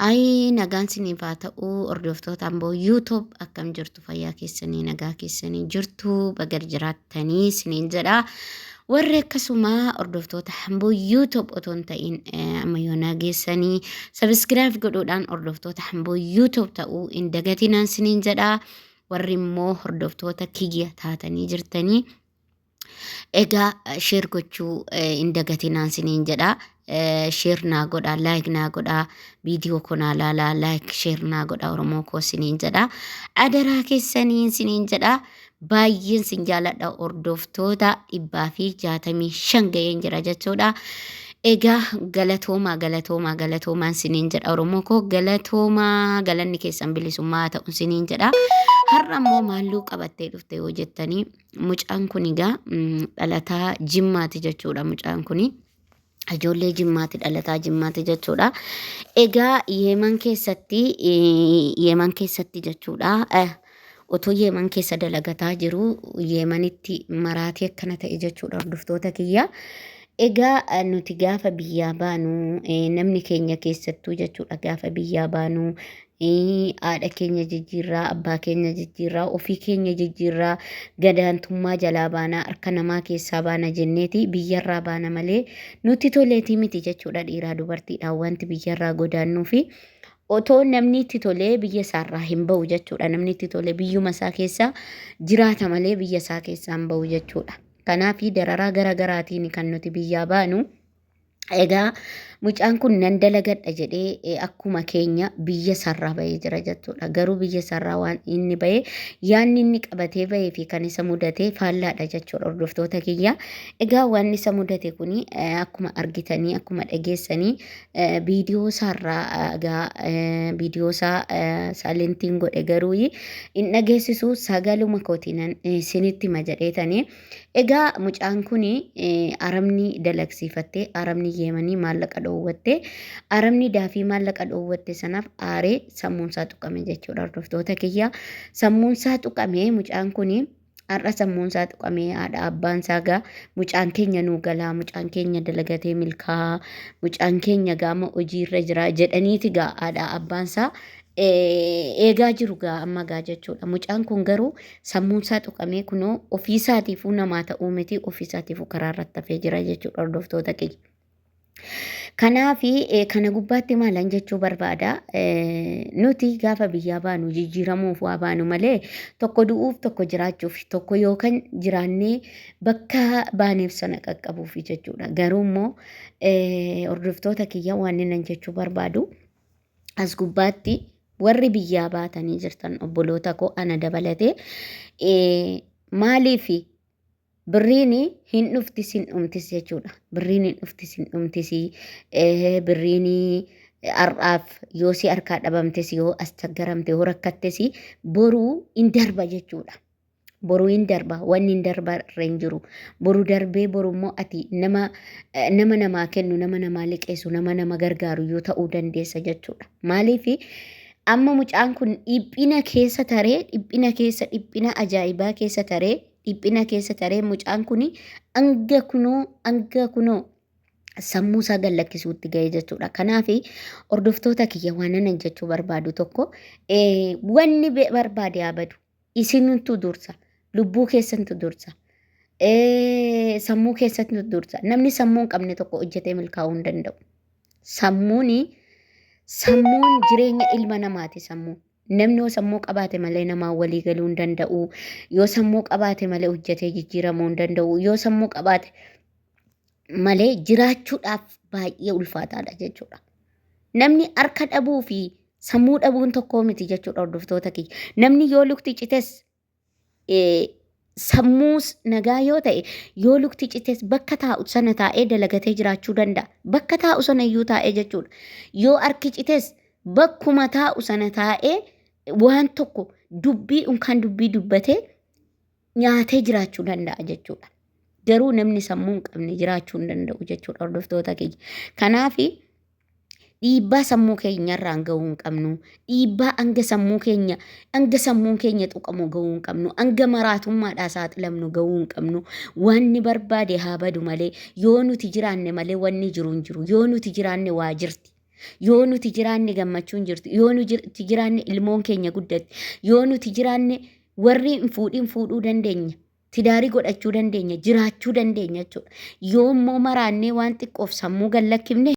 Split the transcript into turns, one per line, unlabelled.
Ayii nagaan siniif haa ta'u hordoftoota amboo yuutub akkam jirtu fayyaa keessanii nagaa keessanii jirtu baga jiraattanii siniin jedha warri akkasuma hordoftoota amboo yuutub otoo hin ta'in eh, amma yoo nageessanii sabiskiraayib godhuudhaan hordoftoota amboo yuutub ta'uu hin dagatinaan siniin jedha warri immoo hordoftoota kiyya taatanii jirtanii egaa sheer gochuu hin dagatinaan siniin jedha sheer naa godha laayik naa godha viidiyoo koo naa laala laayik sheer naa godha oromoo koo siniin jedha adaraa keessaniin siniin jedha baay'een sin jaaladha hordoftoota dhibbaa fi jaatamii shan ga'een jira jechuudha Egaa galatoomaa galatoomaa galatoomaan siniin jedha Oromoo koo galatoomaa galanni keessan bilisummaa haa ta'u siniin jedha. Har'a immoo maalluu qabattee dhufte yoo jettanii mucaan kun egaa mm, dhalataa jimmaati jechuudha mucaan kuni. Ijoollee jimmaati dhalataa jimmaati jechuudha. Egaa yeeman keessatti eh, yeeman keessatti jechuudha. eh, Utuu Yeeman keessa dalagataa jiruu Yeemanitti maraatee akkana ta'e jechuudha hordoftoota kiyya. Egaa eh, nuti gaafa biyyaa baanu eh, namni keenya keessattuu jechuudha gaafa biyyaa baanu eh, haadha keenya jijjiirraa, abbaa keenya jijjiirraa, ofii keenya jijjiirraa, gadaantummaa jalaa baana, harka namaa keessaa baana jenneeti biyyarraa baana malee nuti toleetii miti jechuudha dhiiraa dubartiidhaan wanti biyyarraa godaannuu fi Otoo namni itti tolee biyya isaarraa hin ba'u jechuudha. Namni itti tolee biyyuma isaa keessa jiraata malee biyya isaa keessaa hin ba'u jechuudha. Kanaaf dararaa gara garaatiin kan nuti biyyaa baanu. Egaa mucaan kun nan dalagadha jedhee eh, akkuma keenya biyya isaarraa ba'ee jira jechuudha. Garuu biyya isaarraa waan inni ba'e yaanni inni qabatee ba'ee fi kan isa mudate faallaadha jechuudha hordoftoota kiyya. Egaa waan isa mudate kuni eh, akkuma argitanii akkuma dhageessanii viidiyoo isaarraa egaa viidiyoo isaa saalentiin godhe garuu hin dhageessisu sagaluma kootiinan isinitti hima jedheetanii egaa mucaan kun arabni dalagsiifattee arabni yeemanii maallaqa dhoowwattee arabni daafii maallaqa dhoowwatte sanaaf aaree sammuunsaa tuqame jechuudha hordoftoota kiyya sammuunsaa tuqame mucaan kun Har'a sammuun isaa tuqamee haadha abbaan isaa gaa mucaan keenya nuu galaa mucaan keenya dalagatee milkaa'aa mucaan keenya gaama hojiirra jira jedhaniiti gaa haadha abbaan isaa eh, eegaa jiru gaa amma gaa jechuudha. Mucaan kun garuu sammuun isaa tuqamee kunoo ofiisaatiifuu namaa ta'uu miti ofiisaatiifuu karaa irratti hafee jira jechuudha hordoftoota kiyya. Kanaaf kana gubbaatti maalan jechuu barbaada nuti gaafa biyyaa baanu jijjiiramuuf waa baanu malee tokko du'uuf tokko jiraachuuf tokko yookaan jiraannee bakka baaneef sana qaqqabuuf jechuudha. Garuu immoo hordoftoota kiyya waan inni jechuu barbaadu as gubbaatti warri biyyaa baatanii jirtan obboloota koo ana dabalatee maaliif Birriin hin dhuftis hin dhumtis jechuudha. Birriin hin dhuftis hin dhumtis. Eh, Birriin har'aaf yoo si harkaa dhabamtes yoo as chaggaramte yoo rakkattes boruu hin darba jechuudha. Boruu hin darba wanni hin darba irra hin jiru. Boru darbee boru immoo ati nama eh, nama namaa kennu nama namaa liqeessu nama nama gargaaru yoo ta'uu dandeessa jechuudha. Maaliif amma mucaan kun dhiphina keessa taree dhiphina keessa dhiphina ajaa'ibaa keessa taree dhiphina keessa taree mucaan kun hanga kunoo hanga kunoo sammuu isaa gad lakkisuutti ga'e jechuudha. Kanaaf hordoftoota kiyya waan ani jechuu barbaadu tokko eh, wanni be- barbaade haa badu isintu dursa lubbuu keessantu dursa. Eh, sammuu keessantu dursa namni sammuu hin qabne tokko hojjetee milkaa'uu hin danda'u. Sammuun sammuun jireenya ilma namaati sammuun. Namni yoo sammuu qabaate malee namaan walii galuu hin danda'u. Yoo sammuu qabaate malee hojjetee jijjiiramuu hin danda'u. Yoo sammuu qabaate malee jiraachuudhaaf baay'ee ulfaataadha jechuudha. Namni harka dhabuu fi sammuu dhabuun tokkoo miti jechuudha hordoftoota kiyya. Namni yoo lukti cites sammuus nagaa yoo ta'e yoo lukti cites bakka taa'u sana taa'ee dalagatee jiraachuu danda'a. Bakka taa'u sana iyyuu taa'ee jechuudha. Yoo harki cites bakkuma taa'u sana taa'ee waan tokko dubbii unkaan dubbii dubbatee nyaatee jiraachuu danda'a jechuudha. Garuu namni sammuu hin qabne jiraachuu hin danda'u jechuudha hordoftoota keenya. Kanaafi dhiibbaa sammuu keenyarraan ga'uu hin qabnu dhiibbaa hanga sammuu keenya hanga sammuun keenya tuqamu ga'uu hin qabnu hanga maraatummaadhaa saaxilamnu ga'uu hin qabnu wanni barbaade haa badu malee yoo nuti jiraanne malee wanni jiru hin jiru yoo nuti jiraanne waa jirti yoo nuti jiraanne gammachuun jirtu yoo nuti jiraanne ilmoon keenya guddatti yoo nuti jiraanne warri hin fuudhin fuudhuu dandeenya tidaarii godhachuu dandeenya jiraachuu dandeenya jechuudha yoo immoo maraannee waan xiqqoof sammuu gallakkifne